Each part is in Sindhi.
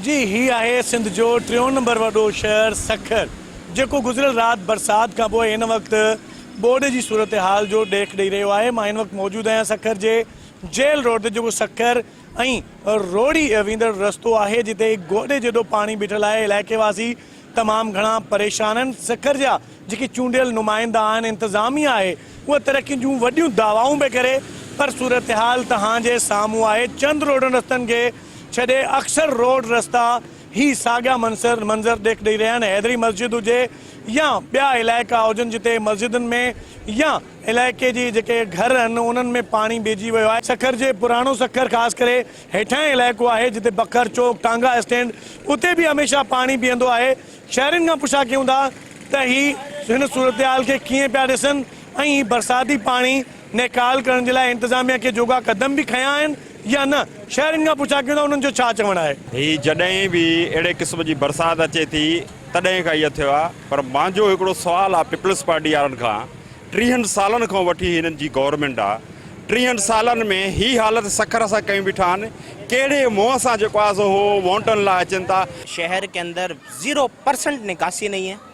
جي هي آهي سنڌ جو ٽيون نمبر وڏو شهر سکر جيڪو گذريل رات برسات کان پوء هن وقت ٻوڏ جي صورتحال جو ڏيک ڏئي رهيو آهي مان هن وقت موجود آهيان سکر جي جيل روڊ تي جيڪو سکر ۽ روهڙي ويندڙ رستو آهي جتي گوڏي جيڏو پاڻي بيٺل آهي علائقي واسي تمام گهڻا پريشان آهن سکر جا جيڪي چونڊيل نمائندا آهن انتظاميه آهي اها ترقين جون وڏيون دعوائون پئي ڪري پر صورتحال تهان جي سامهون آهي چند روڊن رستن کي ڇڏي اڪثر روڊ رستا هي ساڳيا منظر منظر ڏيک ڏئي رهيا آهن حيدري مسجد هجي يا ٻيا علائقا هجن جتي مسجدن ۾ يا علائقي جي جيڪي گهر آهن انهن ۾ پاڻي بيهجي ويو آهي سکر جي پراڻو سکر خاص ڪري هيٺاهين علائقو آهي جتي بکر چوڪ ٽانگا اسٽينڊ اتي به هميشه پاڻي بيهندو آهي شهرين کان پڇا ڪيون ٿا ته هي هن صورتحال کي ڪيئن پيا ڏسن ۽ هي برساتي پاڻي نيڪال ڪرڻ جي لاء انتظاميا ڪي جوڳا قدم به کنيا آهن يا نه؟ شهرين کان پڇا ڪيون ته انهن جو ڇا چوڻ آهي؟ هي جڏهن به اهڙي قسم جي برسات اچي ٿي تڏهن کان ائين ٿيو آهي پر مانجو هڪڙو سوال آهي پيپلز پارٽي وارن کان ٽيهن سالن کان وٺي هي هنن جي گورنمينٽ آهي ٽيهن سالن ۾ هي حالت سکر سان ڪيون بيٺا آهن ڪهڙي منهن سان جيڪو آهي سو هو وونٽن لاء اچن ٿا. شهر ڪي اندر زيرو پرسنٽ نڪاسي نهي هي.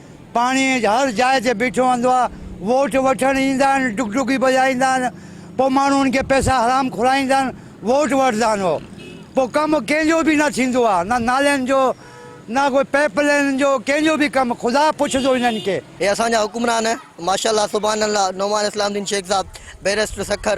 پاڻي هر جاء تي بيٺو هوندو آ ووٽ وٺڻ ايندا آهن ڊگ ڊگي بجائيندا آهن پو ماڻهو ان کي پئسا حرام کورائيندا آهن ووٽ وٺدا آهن هو پو ڪم ڪنهن جو به نه ٿيندو آ نه نالين جو نه ڪو پئپ لينن جو ڪنهن جو به ڪم خدا پڇدو انهن کي. هي اسان جا حڪمران ماشاء الله سبحان الله نعمان اسلام دين شيخ صاحب بيرسٽر سکر.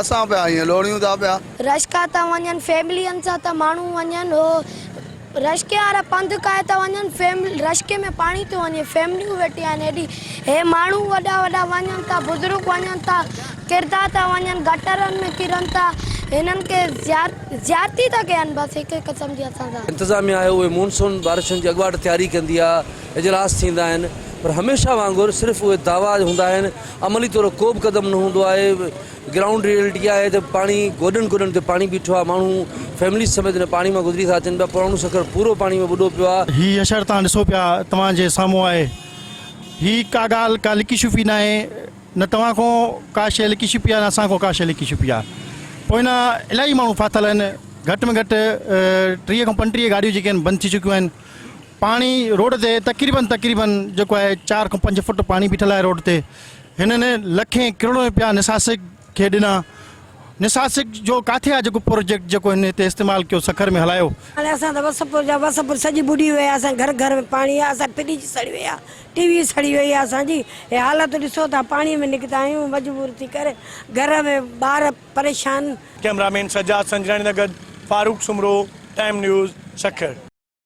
اسان پيا ائين لوڙيون ٿا پيا. رشڪا ٿا وڃن فيملين سان ته ماڻهو وڃن هو رشڪي وارا پنڌ ڪاهي ٿا وڃن فيملين رشڪي ۾ پاڻي ٿيو وڃي فيمليون ويٺيون آهن هيڏي هي ماڻهو وڏا وڏا وڃن ٿا بزرگ وڃن ٿا ڪرندا ٿا وڃن گٽرن ۾ ڪرن ٿا هنن کي زيارتي ٿا ڪين بس هڪ قسم جي اسان سان. انتظاميا آهي اهي مونسون بارشن جي اڳواٽ تياري ڪندي آهي اجلاس ٿيندا آهن پر هميشه وانگر صرف اهي دعويٰ هوندا آهن. عملي طور ڪو به قدم نه هوندو آهي، گرائونڊ ريئلٽي اها آهي ته پاڻي گوڏن گوڏن تي پاڻي بيٺو آهي، ماڻهو فيمليز سميت هن پاڻي مان گذري ٿا اچن پيا، پراڻو سکر پورو پاڻي ۾ ٻڏو پيو آهي. هي حشر توهان ڏسو پيا توهان جي سامهون آهي، هي ڪا ڳالهه ڪا لڪي شفي ناهي، نه توهان کان ڪا شيء لڪي شپي آهي نه اسان کان ڪا شيء لڪي شپي آهي، پوئنا الاهي ماڻهو ڦاٿل آهن، گهٽ ۾ گهٽ ٽيهه کان پنجٽيهه گاڏيون جيڪي آهن بند ٿي چڪيون آهن، پاڻي روڊ تي تقريبن تقريبن جيڪو آهي چار کان پنج فوٽ پاڻي بيٺل آهي روڊ تي هنن لکين ڪروڙين روپيا نساسڪ کي ڏنا نساسڪ جو ڪاٿي آهي جيڪو پروجيڪٽ جيڪو هن هتي استعمال ڪيو سکر ۾ هلايو. هاڻي اسان ته وسپور جا وسپور سڄي ٻڏي وئي آهي اسان گهر گهر ۾ پاڻي آهي اسان فريج سڙي وئي آهي ٽي وي سڙي وئي آهي اسان جي هي حالت ڏسو ٿا پاڻي ۾ نڪتا آهيون مجبور ٿي ڪري گهر ۾ ٻار پريشان. ڪئميرا مين سجاد سنجراڻي سان گڏ فاروق سومرو ٽائيم نيوز سکر.